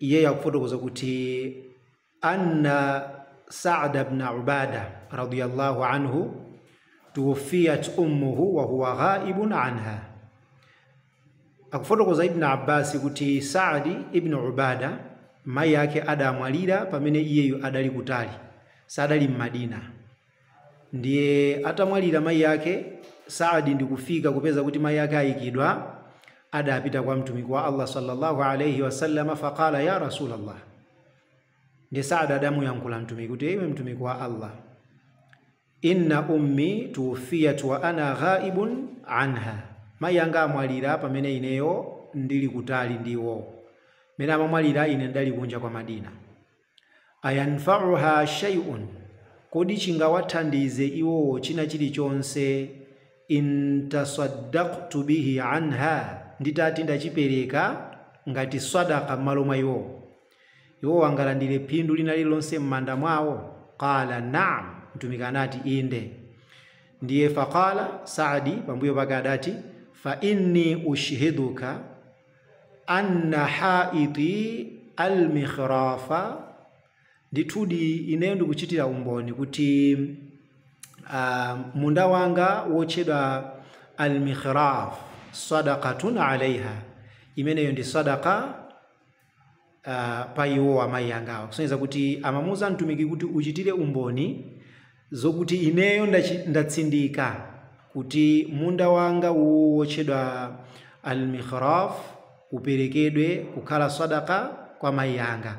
iyeyo akufotokoza kuti anna Sa'd ibn Ubada radiyallahu anhu tuwufiyat ummuhu wa huwa ghaibun anha. Akufotokoza Ibn Abbas kuti Sa'd ibn Ubada mayi ake adamwalira pamene iyeyu adali kutali, sadali m'Madina. Ndiye atamwalira mayi ake, Saad ndikufika kupeza kuti mayi ake ayikidwa, adapita kwa Mtumiki wa Allah sallallahu alayhi wasallam faqala ya Rasulallah. Ndiye Saad adamuyankhula Mtumiki kuti iwe Mtumiki wa Allah, inna ummi tuwfiyat wa ana ghaibun anha, mayi anga amwalira pamene ineyo ndili kutali ndi iwo, mene amamwalira ine ndali kunja kwa Madina. ayanfa'uha shay'un, Kodi chingawathandize iwowo china chilichonse, in tasaddaqtu bihi anha, nditati ndachipereka ngati swadaqah m'malo mwa iwowo? Iwowo angalandire phindu lina lililonse m'manda mwawo? Qaala, Naam! Mtumiki anati, Inde. Ndiye faqaala, Sa'di pambuyo pake adati, Fa inni ushhiduka, Anna haiti al-mikhrafa, ndithudi ineyo ndikuchitira umboni kuti ah, munda wanga wotchedwa al-mikhraf sadaqatun alaiha, imeneyo ndi sadaka uh, pa iwo amayi angawo kusonyeza kuti amamuuza mtumiki kuti uchitire umboni zokuti ineyo ndachi- ndatsindika kuti munda wanga uwu wotchedwa al-mikhraf uperekedwe kukhala sadaka kwa mayi anga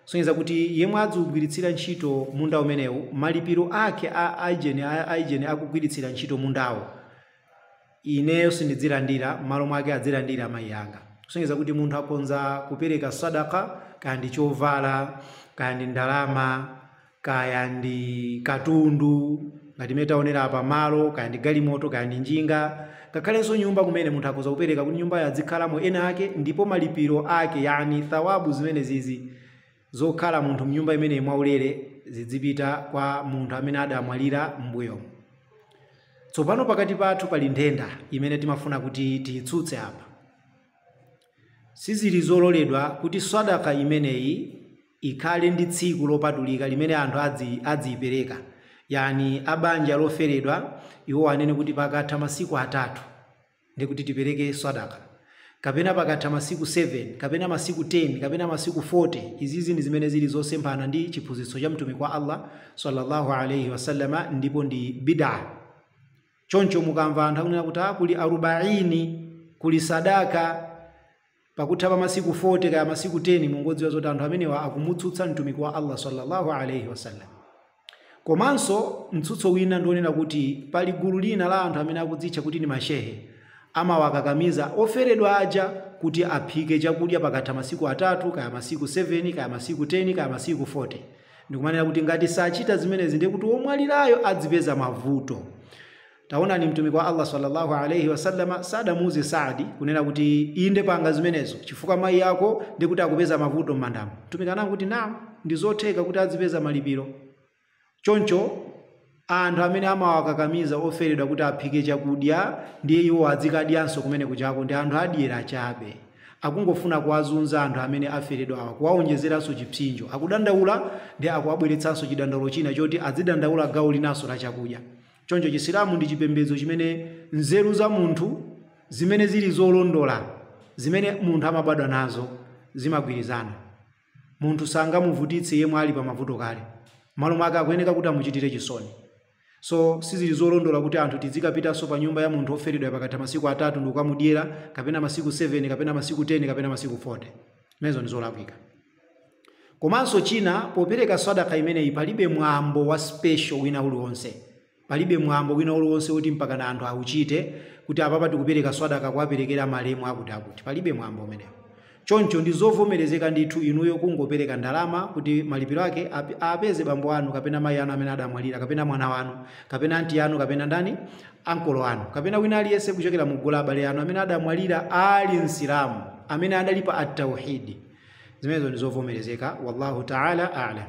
kusonyeza kuti yemwe adziugwiritsira ntchito munda umenewu malipiro ake a aijeni a aijeni akugwiritsira ntchito mundawo ineyo sindidzilandira, mmalo mwake adzilandira amayi anga. Kusonyeza kuti munthu akhonza kupereka sadaqah kaya ndi chovala, kaya ndi ndalama, kaya ndi katundu, ngati mmene taonera apa malo, kaya ndi galimoto, kaya ndi njinga, ngakhalenso nyumba kumene munthu akhoza kupereka kuti nyumbayo adzikhalamo ena ake ndipo malipiro ake yani thawabu zimenezizi zokhala munthu mnyumba imeneyi mwaulere zidzipita kwa munthu amene adamwalira m'mbuyomu. Tsopano pakati pathu pali nthenda imene timafuna kuti tiyitsutse apa. Sizili zololedwa kuti Swadaqah imeneyi ikhale ndi tsiku lopatulika limene anthu adziyipereka, yaani a banja loferedwa iwo anene kuti pakatha masiku atatu, ndiye kuti tipereke sadaka kapena pakatha masiku 7 kapena masiku 10 kapena masiku 40 izizi ndi zimene zili zosemphana ndi chiphunzitso cha mtumiki wa allah sallallahu alaihi wasallama ndipo ndi bidaa choncho mukamva anthu akunena kuti "Ah, kuli arubaini kuli sadaka Pakutha pa masiku 40 kaya masiku 10 mungodziwa zoti anthu amenewa akumutsutsa Mtumiki wa Allah sallallahu alayhi wasallam. Komanso mtsutso wina ndi wonena kuti pali gulu lina la anthu amene akudzitcha kuti ndi mashehe amawakakamiza oferedwa aja kuti aphike chakudya pakatha masiku atatu kaya masiku 7 kaya masiku 10 kaya masiku 40 ndikumanena kuti ngati sachita zimenezi ndiye kuti womwalirayo adzipeza mavuto. Taonani, Mtumiki wa Allah sallallahu alayhi wasallama sadamuuze Saadi kunena kuti inde panga zimenezo chifukwa mayi ako ndi kuti akupeza mavuto m'mandamo. Mtumiki ananena kuti naam, ndi zotheka kuti adzipeza malipiro. Choncho anthu amene amawakakamiza oferedwa kuti aphike chakudya ndiye iwo adzikadyanso kumeneko uchako ndi anthu adyera chabe. Akungofuna kuwazunza anthu amene aferedwawa, kuwaonjezeranso chipsinjo. Akudandaula ndiye akuwabweretsanso chidandaulo china choti adzidandaula gawo linanso la chakudya. Choncho Chisilamu ndi chipembedzo chimene nzeru za munthu zimene zili zolondola, zimene munthu amabadwa nazo, zimagwirizana. Munthu sangamuvutitse yemwe ali pa mavuto kale. M'malo mwake akuyeneka kuti amuchitire chisoni. So sizili zolondola kuti anthu tizikapitanso pa nyumba ya munthu oferedwa pakatha masiku atatu ndikukamudyera, kapena masiku 7, kapena masiku 10, kapena masiku 40. Zimenezo ndi zolakwika. Komanso china popereka swadaka imeneyi palibe mwambo wa special wina uliwonse. Palibe mwambo wina uliwonse woti mpakana anthu auchite kuti apapa tikupereka swadaka kuwaperekera malemu akuti akuti. Palibe mwambo umenewo. Choncho ndi zovomerezeka ndithu inuyo kungopereka ndalama kuti malipiro ake apeze bambo anu kapena mayi anu amene adamwalira kapena mwana wanu kapena anti anu kapena ndani ankolo anu kapena wina aliyense kuchokera mu gulu la abale anu amene adamwalira ali msilamu amene adali pa at-tauhid zimenezo ndi zovomerezeka wallahu ta'ala a'lam